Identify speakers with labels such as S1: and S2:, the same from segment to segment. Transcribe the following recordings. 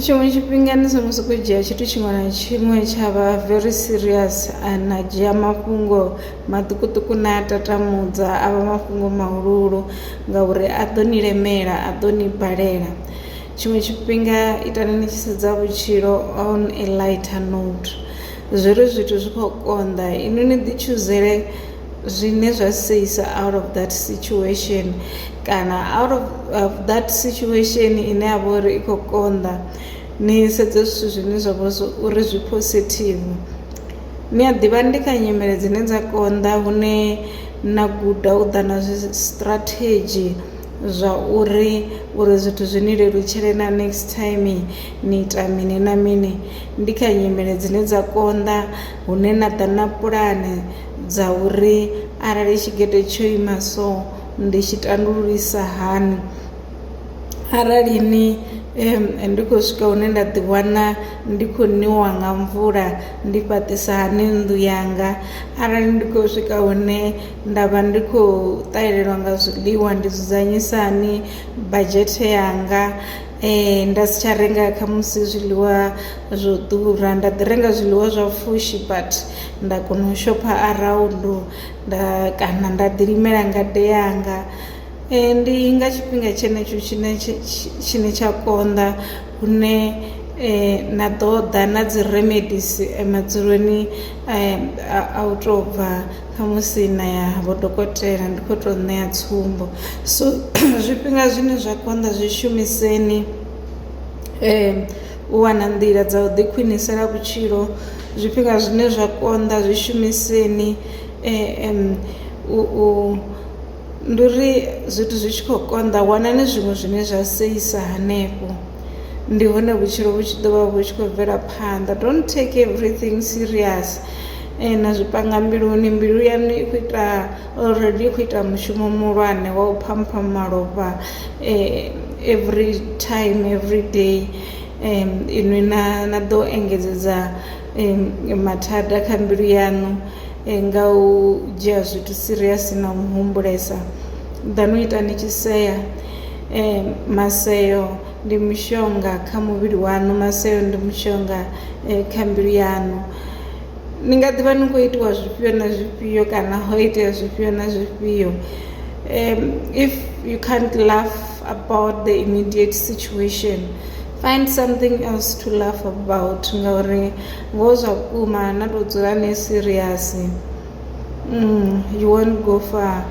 S1: Tshiṅwe tshifhinga ni songo sokou dzhia tshithu tshiṅwe na tshiṅwe tsha vha very serious a na dzhia mafhungo maṱukuṱuku na a tatamudza a vha mafhungo mahuluhulu ngauri a ḓo ni lemela a ḓo ni balela. Tshiṅwe tshifhinga itani ni tshi sedza vhutshilo on a lighter note zwi re zwithu zwi khou konḓa inwi ni ḓi tshuzele zwine zwa seisa out of that situation kana out of, of that situation ine ya vha uri i khou konḓa ni sedze zwithu zwine zwa vha uri zwi positive ni a ḓivha ndi kha nyimele dzine dza konḓa hune na guda u ḓa na zwi strategy zwa uri uri zwithu zwi ni lelutshele na next time ni ita mini na mini ndi kha nyimele dzine dza konḓa hune na ḓa na pulane dza uri arali tshigede tsho ima so ndi tshi tandululisa hani arali ni ndi khou swika hune nda ḓi wana ndi khou niwa nga mvula ndi fhaṱisa hani nnḓu yanga arali ndi khou swika hune nda vha ndi khou ṱahelelwa nga zwiḽiwa ndi dzudzanyisa hani badzhethe yanga nda si tsha renga khamusi zwiḽiwa zwo ḓura nda ḓi renga zwiḽiwa zwa pfhushi but nda kona u shopha around nda kana nda ḓi limela ngade yanga. Ndi nga tshifhinga tshenetsho tshine tshine tsha konḓa hune na ḓo ḓa na dzi remedisi madzuloni a u tou bva. khamusi na ya vho dokotela ndi kho to ṋea tsumbo so zwifhinga zwine zwa konḓa zwi shumiseni u wana nḓila dza u ḓi khwiṋisela vhutshilo zwifhinga zwine zwa konḓa zwi shumiseni u. ndi uri zwithu zwi tshi khou konḓa wanani zwiṅwe zwine zwa seisa hanefho ndi hone vhutshilo vhu tshi ḓo vha vhu tshi khou bvela phanḓa don't take everything serious eh, na zwi panga mbiluni mbilu yanu i khou ita already i khou ita mushumo muhulwane wa u phampha malofha eh, every time every day um, inwi na, na ḓo engedzedza mathada kha mbilu yaṋu nga u dzhia zwithu serious na u humbulesa than u ita ni tshi sea. Maseo ndi mushonga kha muvhili waṋu, maseo ndi mushonga kha mbilu yaṋu. Ni nga ḓi vha ni khou itiwa zwifhio na zwifhio kana ho itea zwifhio na zwifhio if you can't laugh about the immediate situation. Find something else to laugh about ngauri ngoho zwa vhukuma na tou dzula ni serious mm, you won't go far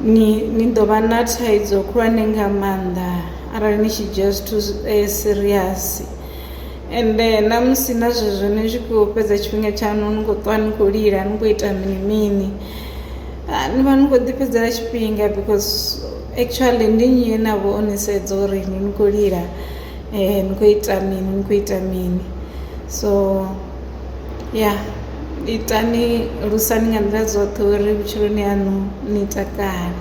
S1: ni ni ḓo vha na thaidzo khulwane nga maanḓa arali ni tshi dzhia zwithu eh, serious ende eh, na musi na zwezwo ni tshi khou fhedza tshifhinga tshaṋu ni khou ṱwa ni khou lila ni khou ita mini mini ah, ni vha ni khou ḓifhedzela tshifhinga because Actually ndi nnyi ane avha o ni sedza uri inwi ni khou lila ni khou ita mini ni khou ita mini so ya itani lusani nga nḓila dzoṱhe uri vhutshiloni haṋu ni takale .